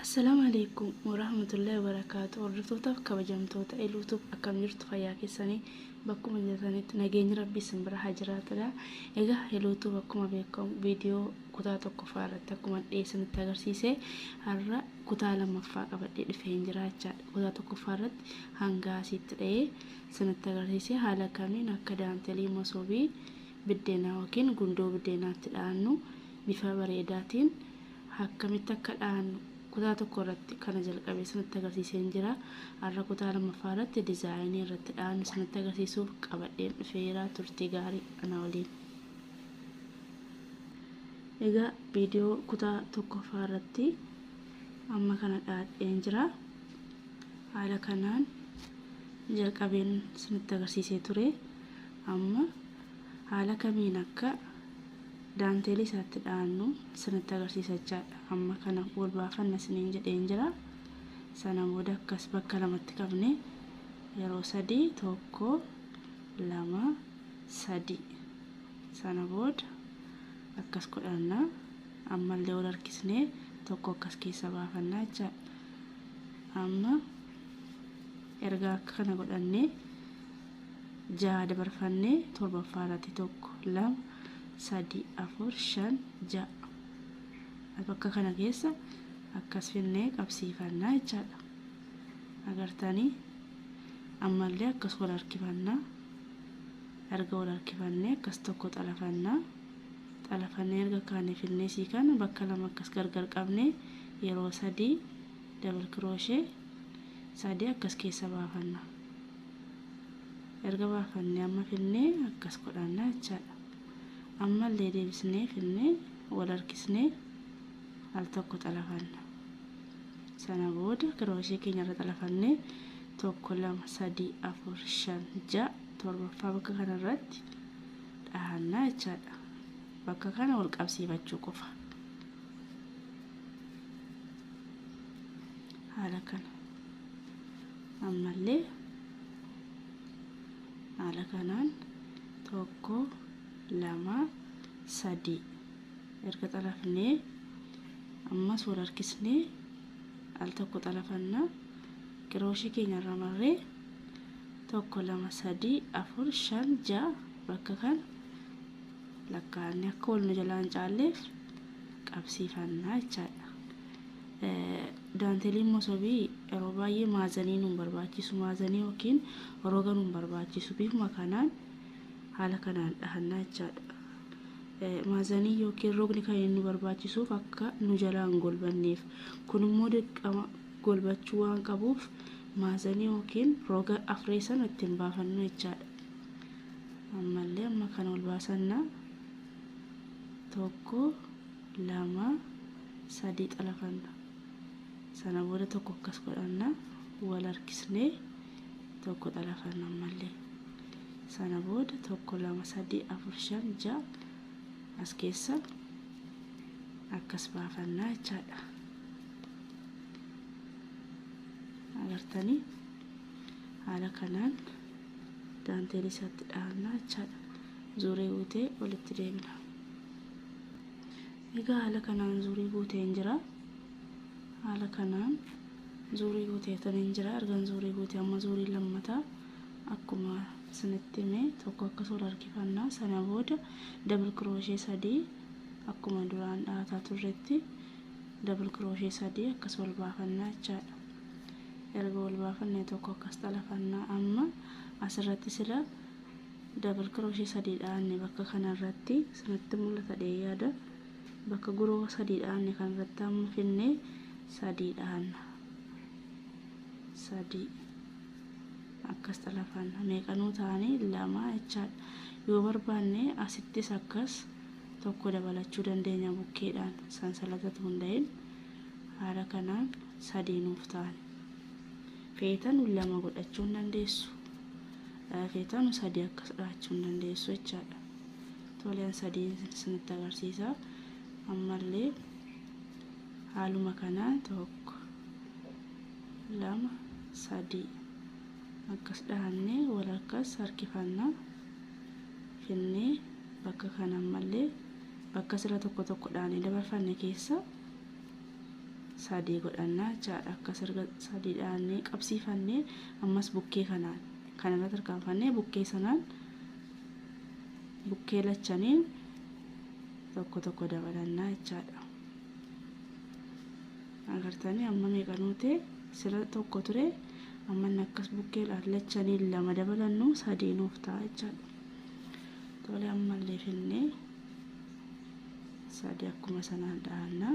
Assalaamu alaikum warahmatullahi wabarakaatu hordoftootaf kabajamtoota eluutuuf akkam jirtu fayyaa keessanii bakkuma jirtanitti nageenyi rabbii isin bira haa jiraatudha egaa eluutuuf akkuma beekamu viidiyoo Kutaa tokkoffaa irratti akkuman dhiyeessanitti agarsiise har'a kutaa lammaffaa qabadhee dhufeen jira jechaadha. Kutaa tokkoffaa irratti hanga asiitti dha'ee sanitti agarsiise haala kamiin akka daantelii masoobii biddeenaa yookiin gundoo biddeenaatti dha'annu bifa bareedaatiin akkamitti akka dha'annu kutaa tokko irratti kana jalqabee sanitti agarsiiseen jira. Har'a kutaa lammaffaa irratti dizaayinii irratti dha'annu sanitti agarsiisuuf qabadheen dhufeera turtii gaarii ana waliin. Egaa viidiyoo kutaa tokkoffaa irratti amma kana dhaadheen jira. Haala kanaan jalqabeen isinitti agarsiisee ture. Amma haala kamiin akka daanteelii isaatti dhaannu isinitti agarsiisa jechaadha. Amma kana wal baafanna isiniin jedheen jira. Sana booda akkas bakka lamatti qabne yeroo sadii tokko lama sadii. Sana booda akkas godhanna. Ammallee wal harkisnee tokko akkas keessa baafanna jechaadha. Amma erga akka kana godhannee jaha dabarfannee torbaffaa irratti tokko lama sadii afur shan ja'a bakka kana keessa akkas finnee qabsiifannaa jechaadha. Agartanii ammallee akkas wal harkifannaa. erga wal harkifannee akkas tokko xalafanna. Xalafannee erga kaane filneesii kana bakka lama akkas gargar qabnee yeroo sadii double crochet sadii akkas keessa baafanna. Erga baafannee amma filnee akkas godhanna jechaadha. Ammallee deebisnee filnee wal harkisnee al tokko xalafanna. sana booda kirooshee keenya irra xalafannee tokko lama sadii afur shan ja'a torbaffaa bakka kana irratti dhahannaa jechaadha bakka kana wal qabsiifachuu qofa haala kana ammallee haala kanaan tokko lama sadii erga xalafnee ammas wal harkisnee al tokko xalafanna qirooshii keenya irra marree tokko lama sadii afur shan ja'a bakka kan lakkaa'anne akka wal nu jalaa hin caalleef qabsiifannaa jechaadha. Daanteliin mosobii yeroo baay'ee maazanii nu barbaachisu maazanii yookiin roga nu barbaachisu bifuma kanaan haala kanaan dhahannaa jechaadha. Maazanii ykn rogni kan inni nu barbaachisuuf akka nu jalaa hin golbanneef. Kun immoo dirqama golbachuu waan qabuuf maazanii ykn roga afree sana ittiin baafannu jechaadha. Ammallee amma kan ol baasanna tokko lama sadii xalafanna. Sana booda tokko akkas godhanna wal harkisnee tokko xalafanna ammallee sana booda tokko lama sadii afur shan ja'a as keessa akkas baafannaa jechaadha agartanii haala kanaan daanteelii isaatti dhahannaa jechaadha zuuree guutee walitti deebina Egaa haala kanaan zuurii guuteen jira. Haala kanaan zuurii guuteetaniin jira. Ergan zuurii guute amma zuurii lammata akkuma isinitti hime tokko akkas ol harkifanna. Sana booda dabal kirooshee sadii akkuma duraan dhaataa turretti dabal kirooshee sadii akkas ol baafannaa jechaadha. Erga ol baafannee tokko akkas xalafanna amma asirratti sila Double crochet sadii dhaanne bakka kana irratti isinitti mul'ata dhee yaada bakka guroo sadii dhaanne kan irratti amma finne sadii dhaanna sadii akkas xalafanna meeqanuu ta'anii lama jechaadha yoo barbaanne asittis akkas tokko dabalachuu dandeenya bukkeedhaan sansalatatu hunda'in haala kanaan sadii nuuf ta'an feetan lama godhachuu hin dandeessu feetanu sadii akkas dhahachuu hin dandeessu jechaadha. Toleen sadii isinitti agarsiisa. Ammallee haaluma kanaan tokko lama sadii akkas dhahannee walakkas harkifanna finnee bakka kana ammallee bakka sila tokko tokko dhaanee dabarfanne keessa sadii godhannaa jechaadha akkas erga sadii dhaannee qabsiifannee ammas bukkee kanaan kan irra tarkaanfannee bukkee sanaan bukkee lachanii tokko tokko dabalannaa jechaadha agartanii amma meeqa nuute sila tokko ture amma inni akkas bukkee lachanii lama dabalannu sadii nuuf ta'a jechaadha tole ammallee finnee Sadii akkuma sanaan dhahanna.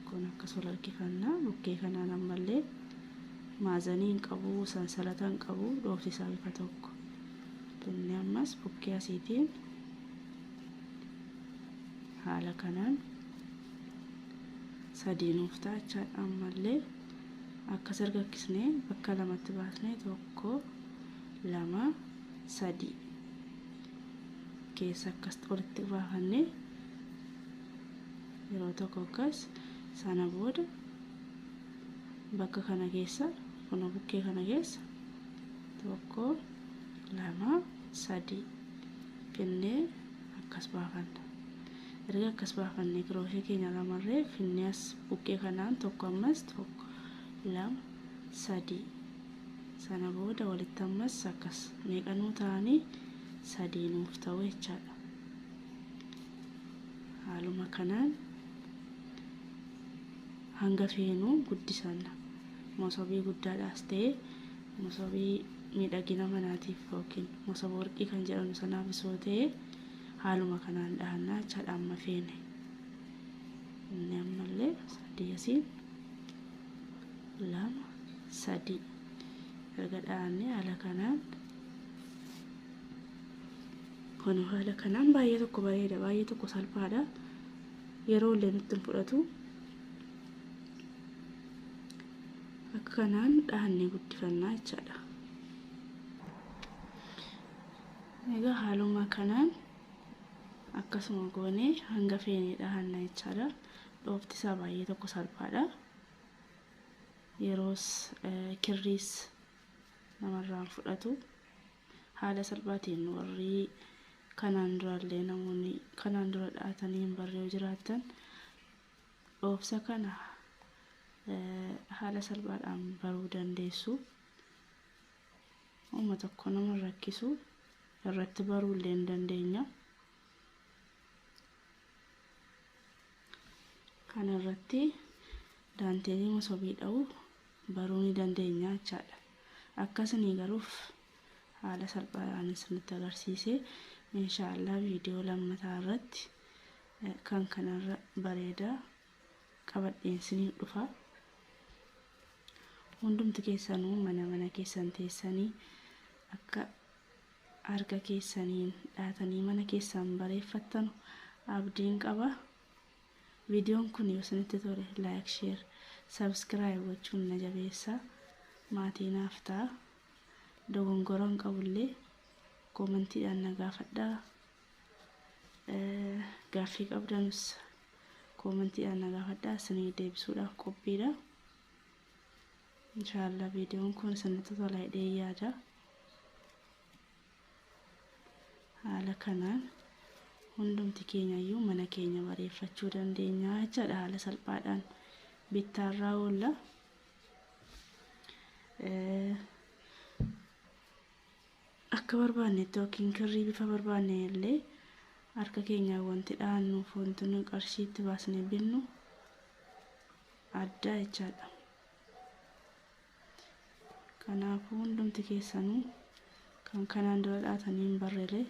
Kun akkas wal harkifanna. Bukkee kanaan ammallee maazanii hin qabu, sansalata hin qabu, dhoofsisaa bifa tokko. Binni ammas bukkee asiitiin haala kanaan sadii nuuf ta'a jechaadha. Ammallee akkas argakkisnee bakka lamatti baasnee tokko, lama, sadii. keessa akkas olitti baafannee yeroo tokko akkas sana booda bakka kana keessa kun bukkee kana keessa tokko lama sadii finnee akkas baafanna erga akkas baafannee kirooshee keenya lamarree finnee as bukkee kanaan tokko ammas tokko lama sadii Sana booda walitti ammas akkas. Meeqa nuu ta'anii? Sadii nuuf ta'u jechaadha. Haaluma kanaan hanga feenu guddisanna. Mosobii guddaadhaas ta'e mosobii miidhagina manaatiif yookiin mosoba warqii kan jedhamu sanaaf isoo ta'e haaluma kanaan dhahannaa jechaadha amma feene. Inni ammallee sadii asiin lama sadii erga dhaanne haala kanaan kun haala kanaan baay'ee tokko bareeda baay'ee tokko salphaadha yeroo illee nutti hin fudhatu akka kanaan dhaannee guddifannaa jechaadha egaa haaluma kanaan akkasuma goonee hanga feene dhaanna jechaadha Dhoofti isaa baay'ee tokko salphaadha. Yeroos kirriis namarraan fudhatu. Haala salphaatiin warri kanaan duraallee namoonni kanaan dura dha'atanii hin barre yoo jiraattan dhoofsa kana haala salphaadhaan baruu dandeessu. Uma tokko nama rakkisu irratti baruu illee hin dandeenya. kana irratti daanteelii masobii dha'u baruu ni dandeenya jechaadha. Akkasini garuuf haala salphaadhaan isinitti agarsiise inshaallah viidiyoo lammataa irratti kan kanarra bareeda qabadheen isiniif dhufa. Hundumti keessanuu mana mana keessan teessanii akka harka keessaniin dhaatanii mana keessaan bareeffattanu abdiin qaba. Viidiyoon kun yoo isinitti tole like, share, subscribe gochuun na jabeessa. Maatii naaf ta'a. Dogongora hin qabullee koomentiidhaan na gaafadhaa. Gaaffii qabdanus koomentiidhaan na gaafadhaa isinii deebisuudhaaf qophiidha. Inshaallah viidiyoon kun isinitti tola jedhee yaada. Haala kanaan hundumti keenyayyuu mana keenya bareeffachuu dandeenya jechaadha haala salphaadhaan bittaarraa oolla. Akka barbaannetti yookiin kirrii bifa barbaanne illee harka keenyaan wanti dhaannuuf wanti nuyi qarshiitti baasnee binnu addaa jechaadha. Kanaafuu hundumti keessanuu kan kanaan dura dhaatanii hin barreelee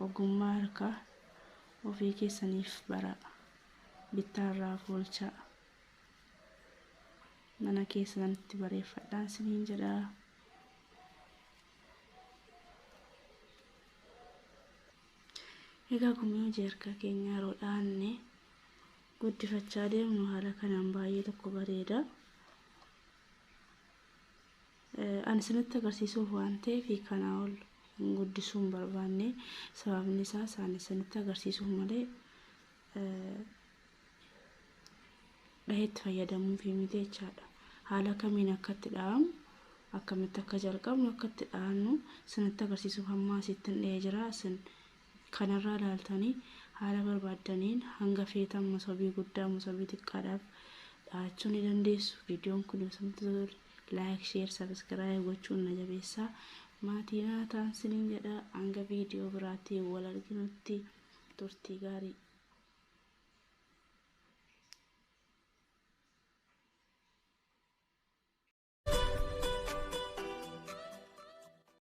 ogummaa harkaa ofii keessaniif baraa bittaa irraa foolchaa mana keessanitti bareeffadhaan siniin jedhaa. Egaa gumii hojii harkaa keenya yeroo dhaanne guddifachaa deemnu haala kanaan baay'ee tokko bareeda. Ani isinitti agarsiisuuf waan ta'eef kanaa ol guddisuu hin barbaanne sababni isaas ani isinitti agarsiisuuf malee dhaheetti fayyadamuuf miti jechaadha. Haala kamiin akka itti dha'amu akkamitti akka jalqabnu akka itti dha'annu isinitti agarsiisuuf hamma asitti hin dha'ee jira isin kanarraa ilaaltanii haala barbaaddaniin hanga feetan mosobii guddaa mosobii xiqqaadhaaf dhahachuu ni dandeessu. Viidiyoon kun yoo isintti tole like, share, subscribe gochuun na jabeessaa. Maatii naa ta'aa isiniin jedha. Hanga viidiyoo biraatti wal arginutti turtii gaarii.